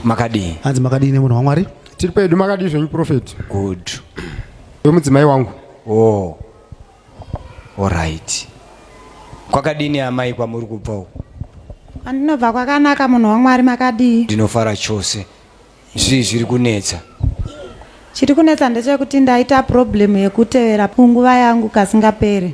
makadii hanzi makadii nemunhu wamwari tiri pedu makadii zvenyu profeti good wemudzimai wangu o oh. orit kwakadini amai kwamuri kubva uku andinobva kwakanaka munhu wamwari makadii ndinofara chose Zvii zviri kunetsa? Chiri kunetsa ndechekuti ndaita problem yekutevera punguva yangu kasingapere.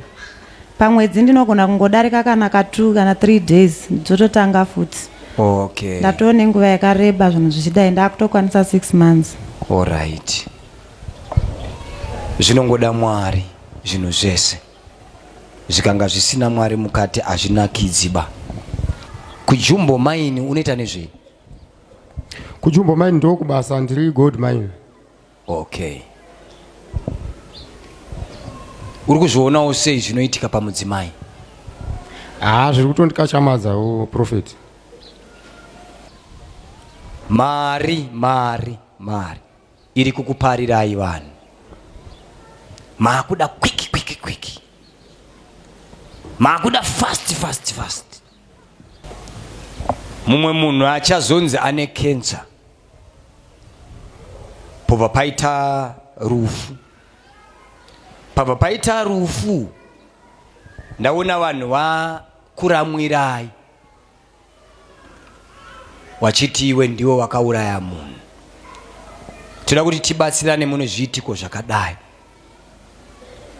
Pamwedzi ndinogona kungodarika kana ka 2 kana 3 days dzototanga futi. Okay. Ndatoo nenguva yakareba zvinhu zvichidai ndakutokwanisa 6 months. Alright. Zvinongoda Mwari zvinhu zvese. Zvikanga zvisina Mwari mukati hazvinakidziba. Kujumbo maini unoita nezvei? Kujumbo mine ndokubasa ndiri gold mine. Okay. Uri kuzvionawo sei zvinoitika pamudzimai? Ah, zviri kutondikachamadzawo prophet. Mari, mari, mari iri kukuparirai vanhu. Makuda quick quick quick. Makuda fast fast fast. mumwe munhu achazonzi ane kensa pobva paita rufu pabva paita rufu ndaona vanhu vakuramwirai wachiti iwe ndiwo wakauraya munhu toda kuti tibatsirane mune zviitiko zvakadai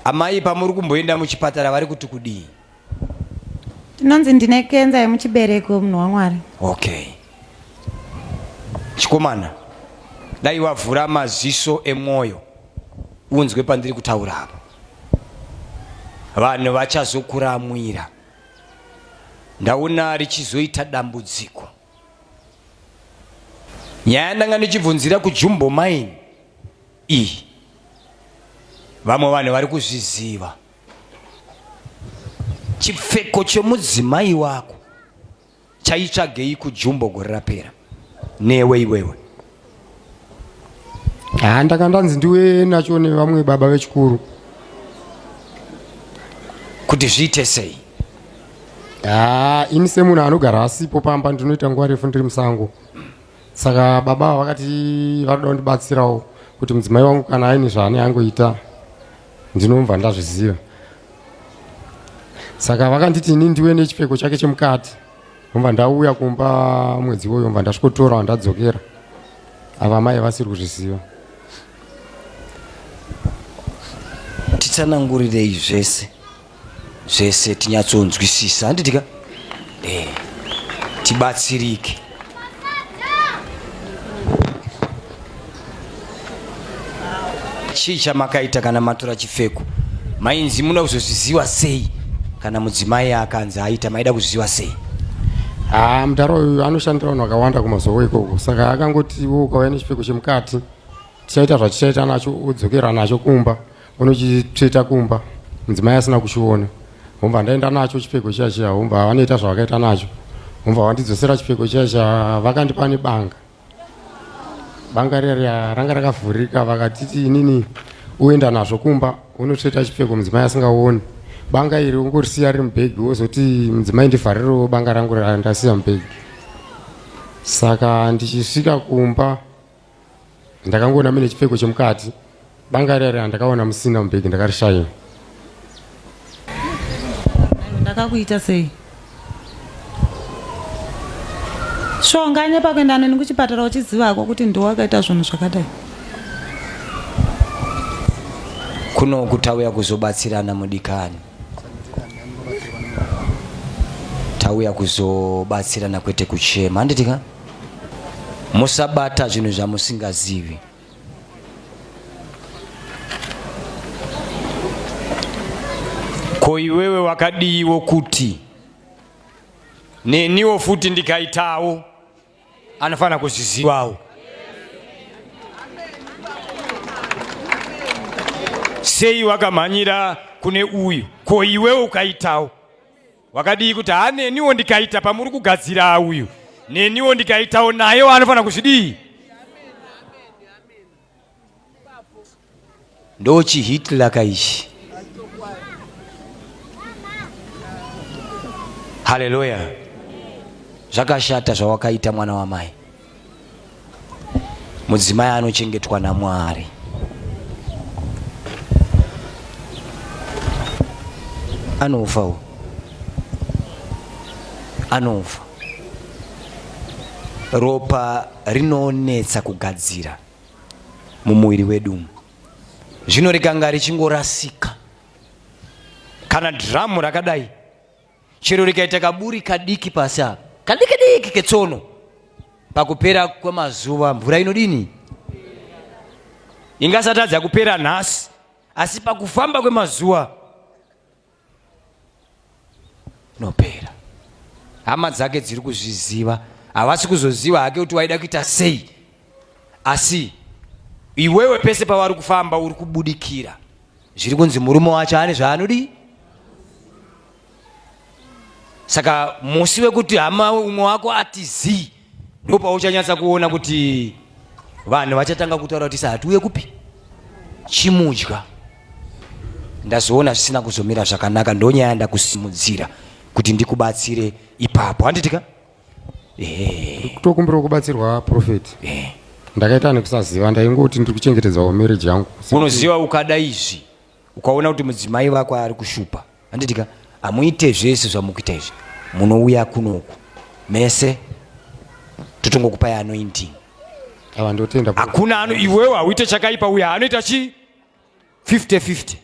amai pamuri kumboenda muchipatara vari kuti kudii Tinonzi ndine kenza yemuchibereko munhu waMwari. Okay. Chikomana, dai wavhura maziso emwoyo unzwe pandiri kutaura apa. Vanhu vachazokuramwira. Ndaona richizoita dambudziko. Nyaya ndanga ndichibvunzira kuJumbo Mine iyi. Vamwe vanhu vari kuzviziva. chipfeko chemudzimai wako chaitsvagei kujumbo gore rapera newe iwewe ha ndanga ndanzi ndiwe nacho nevamwe baba vechikuru kuti zviite sei ha ini semunhu anogara asipo pamba ndinoita nguva refu ndiri musango saka baba vakati vanoda kundibatsirawo kuti mudzimai wangu kana aine zvaane angoita ndinomva ndazviziva saka vakanditi ini ndiwe nechipfeko chake chemukati omva ndauya kumba mwedzi iwoyo omva ndasvikotora wandadzokera ava mai vasiri kuzviziva titsanangurirei zvese zvese tinyatsonzwisisa handiti ka eh, tibatsirike chii chamakaita kana matora chipfeko mainzi muda kuzozviziva sei kana mudzimai akanzi aita maida kuzviziva sei haa mudhara uyu anoshandira vanhu vakawanda kumazovo ikoko saka akangotivo ukauya nechipfeko chemukati tichaita zvatichaita nacho udzokera nacho kumba Ono chitsveta kumba mudzimai asina kuchiona homva ndaenda nacho chipfeko chiya chiya homva vanoita zvavakaita nacho homva vandidzosera chipfeko chiya chiya vakandipa nebanga banga riya ranga rakavhurika vakatiti inini uenda nazvo kumba unotsveta chipfeko mudzimai asingaoni banga iri ungorisiya riri mubhegi wozoti mudzimai ndivharirewo banga rangu randasiya mubhegi saka ndichisvika kumba ndakangoona mune chipfeko chemukati banga riya riya ndakaona musina mubhegi ndakarishaya ndakakuita sei shonga nepakuenda neni kuchipatara uchizivako kuti ndiwo wakaita zvinhu zvakadai kuno kutauya kuzobatsirana mudikani tauya kuzobatsirana kwete kuchema handitika musabata zvinhu zvamusingazivi ko iwewe wakadiiwo kuti neniwo futi ndikaitawo anofanira kuzvizivawo sei wakamhanyira kune uyu ko iwewe ukaitawo wakadii kuti haa neniwo ndikaita pamuri kugadzira uyu neniwo ndikaitawo nayewo anofanira kuzvidii ndochihitlaka ichi haleluya zvakashata zvawakaita mwana wamai mudzimai anochengetwa namwari anofa u anofa ropa rinonetsa kugadzira mumuviri wedu umu zvino rikanga richingorasika kana dhiramu rakadai chero rikaita kaburi kadiki pasi apa kadiki diki ketsono pakupera kwemazuva mvura inodini ingasatadza kupera nhasi asi pakufamba kwemazuva inopera hama dzake dziri kuzviziva havasi kuzoziva hake kuti waida kuita sei asi iwewe pese pavari kufamba uri kubudikira zviri kunzi murume wacho ane zvaanodii saka musi wekuti hama umwe wako ati zii ndo pauchanyatsa kuona kuti vanhu vachatanga kutaura kuti sa hatiuye kupi chimudya ndazoona zvisina kuzomira zvakanaka ndonyaya ndakusimudzira kuti ndikubatsire ipapo handiti ka eh. kutokumbirawo kubatsirwa profeti eh. ndakaita nekusaziva ndaingoti ndiri kuchengetedzawo marriage yangu unoziva ukada izvi ukaona kuti mudzimai vako ari kushupa handitika hamuite zvese zvamukuita izvi munouya kunoku mese totongokupai anointing hakuna ano iwewo hauite chakaipa uya anoita chii 50 50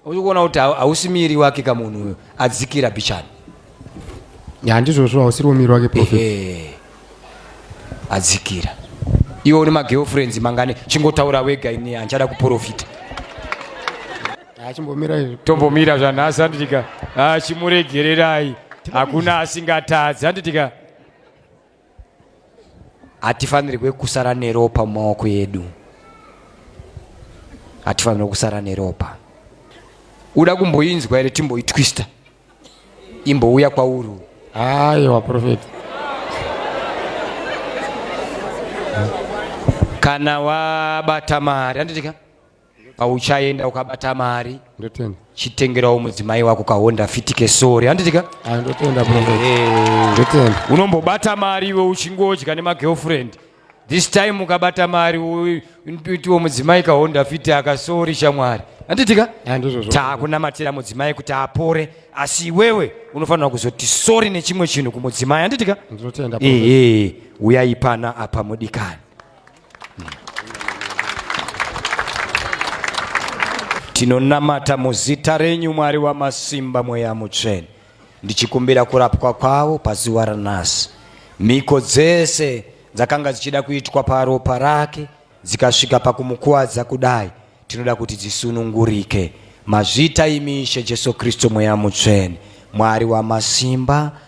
uchikuona kuti hausi miiri wake ka munhu uyo adzikira bichani handizvozvo hausiri womiri wake prophet adzikira iwe une magirlfriends mangani chingotaura wega ini handichada kuprofita tombomira zvanhasi handitika achimuregererai hakuna asingatadzi handitika hatifanirwe kusara neropa mumaoko edu hatifanirwe kusara neropa uda kumboinzwa here timboitwista imbouya kwauri aiwa profeti kana wabata mari handitika pauchaenda ukabata mari ndotenda chitengerawo mudzimai wako kahonda fiti kesori handitika ah, ndotenda ndotenda unombobata mari iwe uchingodya nemagirlfriend this time ukabata mari itiwo mudzimai kahonda fiti akasori shamwari handitika ah, takunamatira mudzimai kuti apore asi iwewe unofanira kuzoti sori nechimwe chinhu kumudzimai handitika ndotenda ehe uyaipana apa mudikani Tinonamata muzita renyu Mwari wamasimba mweya mutsvene ndichikumbira kurapwa kwavo pazuva ranhasi mhiko dzese dzakanga dzichida kuitwa paropa rake dzikasvika pakumukuvadza kudai tinoda kuti dzisunungurike mazvita imishe jesu kristu mweya mutsvene mwari wamasimba